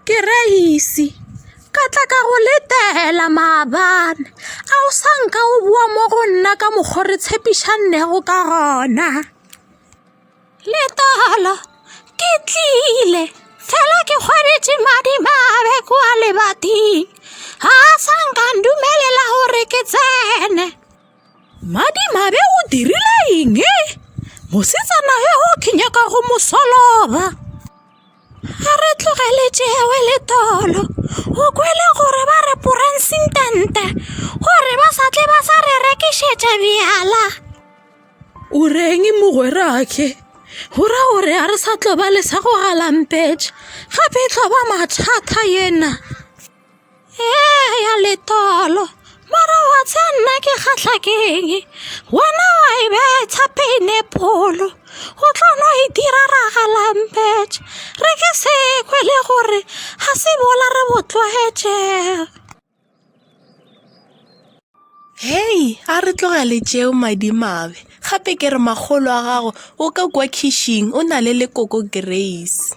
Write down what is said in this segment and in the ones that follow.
ke reisi ka tla ka go letela maabane a o sa nka o boa mo go nna ka mokgwa re tshepišannego ka gona letala ke tlile fela ke kgwabetše madimabe kua lebating ga a sa nka ndumelela gore ke tsene Madimabe o dirile eng? Mosetsana yoo ke nyaka go mo soloba. A re tlogele tšewe le tolo. O kwele gore ba re poransintente gore ba sa tle ba sa re rekišetša bjala. O reng mogwerake? O ra gore a re sa tlo ba le sa go galampetša gape e tlo ba mathata yena. ee ya letolo mara wa tsa nna ke kgatlha keng wena wa e betha peinepolo o tlo no e dira ragalampet re ke se kwe le gore ga se bola re bo tlwaetšega hei a re tlogele tšeo madimabe gape ke re magolo a gago o ka kwa khishing o na le lekoko grace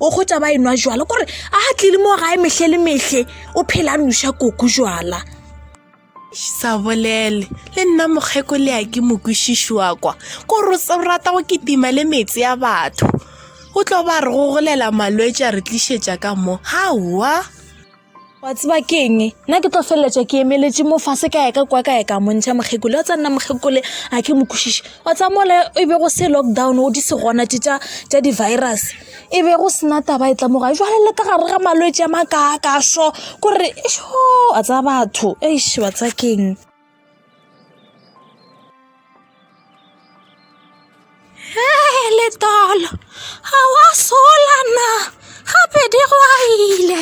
o kgotsa ba e nwa jwala kore a ga tlile mo gae metlhe le metlhe o phela a noša koko jwala sa bolele le nna mokgeko le ya ke mokwešiši wa kwa ko rata go kitima le metse ya batho o tlo ba re go golela malwetse a re tlišetša ka mo gaowa wa tseba ke eng nna ke tlo feleletša ke emeletše mo fase ka yaka kwa ka yaka montšha mokgekole wa tsa nna mokgekole a ke mokwešiše wa tsa mole e be go se lockdown o di se gona tše tša tša di-virus e be go sena taba e tla moga jwale le ka gare ga malwetse a makaakaso kore sho a tsa batho eish wa tsa keng Hey, letolo ga wa sola na gape di go aile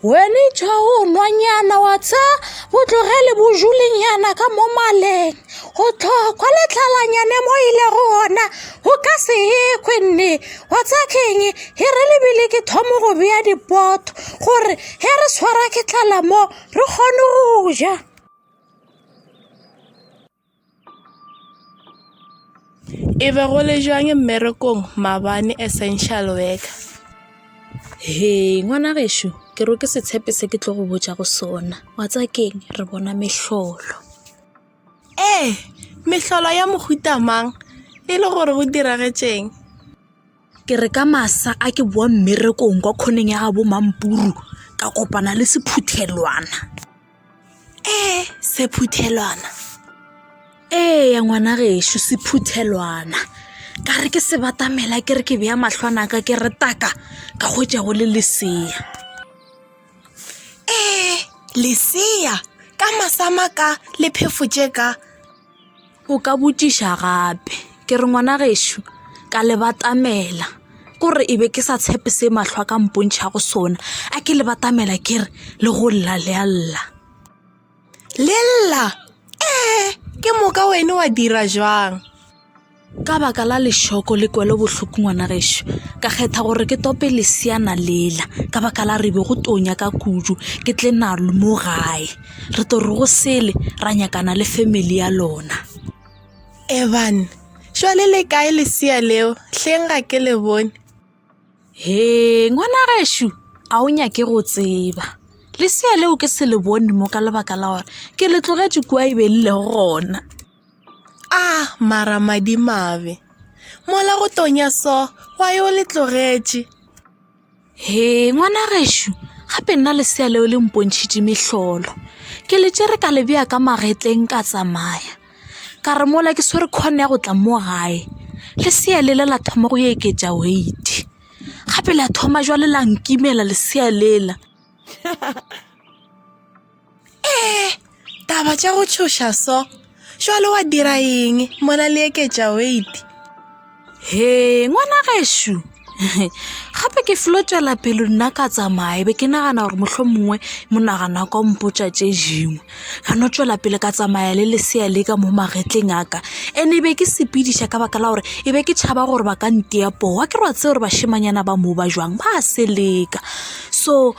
wene tšha o nwanyana wa tsa botlogele bojulenyana ka mo maleng go tlhokwa letlalanyane mo ile go ona go ka se ekwe nne wa tsa keng he re lebile ke thomo go bea dipoto gore he re tshwara ke tlala mo re kgone go ja e be go le jwang mmerekong mabane essential worker he ngwana gešo ke ro ke setshepe se ke tlo go botja go sona wa tsa keng re bona mehlolo ee mehlolo ya mohuta mang e le gore go diragetšeng Ke re ka masa a ke boa mmerekong kwa khoneng ya gabo Mampuru ka kopana le sephuthelwana. Ee, sephuthelwana? Eya, ngwana gešo, sephuthelwana. Ka re ke se batamela ke re ke bea mahlo a ka ke re taka ka hwetša go le lesea. Ee, lesea? Ka masa a maka le phefo tše ka? o ka botšiša gape ke re ngwana gešo ka le batamela ke gore e be ke sa tshepe se mahlo a ka mpontšha go sona a ke le batamela ke re le go lla le a lla le lla ee ke moka wena wa dira jwang ka baka la lešoko le kwelo bohloko ngwana gešo ka kgetha gore ke tope lesiana lela ka baka la rebe go tonya ka kudu ke tle na le mo gae re to re go sele ra nyakana le family ya lona evan šwale le kae lesia leo hleng ga ke le bone he ngwana gešo a o nyake go tseba lesia leo ke se le bone mo ka lebaka la gore ke le tlogetse kua e be le lego gona Ah, mara madimabe. Mola go tonya so, wa yo le tlogetše. He, ngwana gešo, gape nna lesea leo le mpontšhitše mehlolo. Ke le tšere ka le bea ka magetleng ka tsamaya. Ka re mola ke swere khone ya go tla mo gae. Lesea le la thoma go eketša weight. Gape la thoma jwale la nkimela lesea lela. ee taba tša go tšhoša so jalo wa dira eng mona le eketša wait he ngwana gešo gape ke felo tswela pelo nna ka tsamaye be ke nagana gore motlho mongwe monagano wa ka o mpotsa tše dingwe ka no tswela pele ka tsamaya le lesea le ka mo magetleng a ka ande be ke sepediša ka baka la gore e be ke tšhaba gore ba ka nteya powa ke re wa tse gore bashimanyana ba mo ba jwang ba se leka so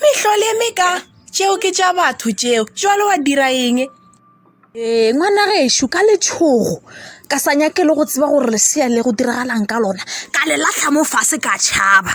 Mehlole me ka tšeo ke tša batho tšeo jalo wa dira eng ee ngwana gešo ka letšhogo ka sa nyake le go tseba gore lesea le go diragalang ka lona ka le latlha mo fase ka tšhaba